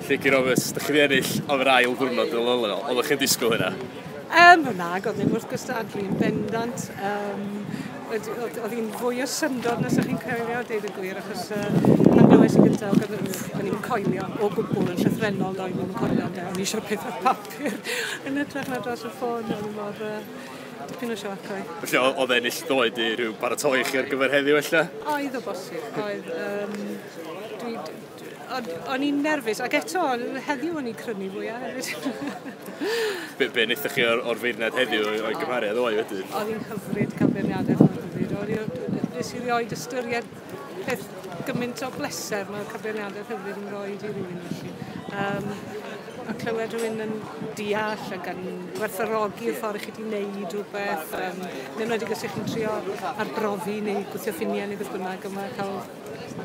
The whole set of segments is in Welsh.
Think you're obvious. Dych chi wedi ennill am yr ail ddwrnod yn ôl yno. Oeddech chi'n disgwyl hynna? Um, na, oedd ddim wrth gwstadlu yn bendant. Um, oedd hi'n fwy o syndod nes ydych chi'n coelio, dweud y gwir, achos uh, pan glywes i gyntaf, o'n i'n coelio o gwbl yn llythrenol, doedd ddim yn coelio, ond o'n i eisiau peth o'r papur yn ytrach na dros y ffôn, o'n mor... Uh, dipyn o sioc oedd. Felly oedd ennill ddoed i rhyw baratoi chi ar gyfer heddiw felly? Oedd o bosib, oedd. Um, dwi, O'n i'n nerfus, ac eto, heddiw o'n i'n crynu fwyaf hefyd. be, be wnaethoch chi o'r, or feirniad heddiw o'i gymharu â ddoe wedyn? Oedd hi'n hyfryd cael beirniadaeth mor hyfryd. O'n i, nes i rioed ystyried peth gymaint o bleser mae'r cyfeiriadaeth hyfryd yn rhoi i rywun felly. Um, a clywed rhywun yn deall ac yn gwerthorogi y ffordd chi wedi wneud rhywbeth, um, neu wedi gysig chi'n trio arbrofi neu gwthio ffiniau neu beth bynnag, yma cael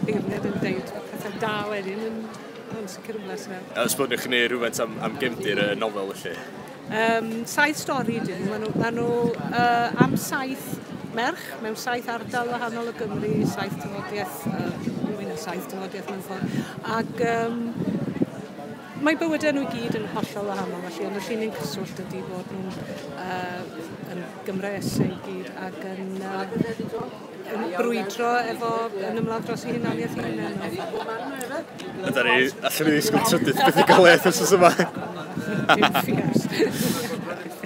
Beirniad yn deud petha da wedyn yn yn sicr yn blesio. Os bod chi'n gwneud rhywbeth am, am gefndir y nofel felly? Um, saith stori dyn nhw. Maen nhw, ma nhw uh, am saith merch mewn saith ardal wahanol o Gymru, saith tyfodiaeth, uh, mwy na saith tyfodiaeth mewn ffordd. Ac um, mae bywydau nhw i gyd yn hollol wahanol, felly ond y llun yn cyswllt ydy bod nhw'n uh, yn Gymraes ei gyd ac yn uh, brwydro efo yn ymladd dros ei hunaniaeth i hynna. Yda ni, allan ni ddisgwyl trydydd beth i gael bethau galeth os yma.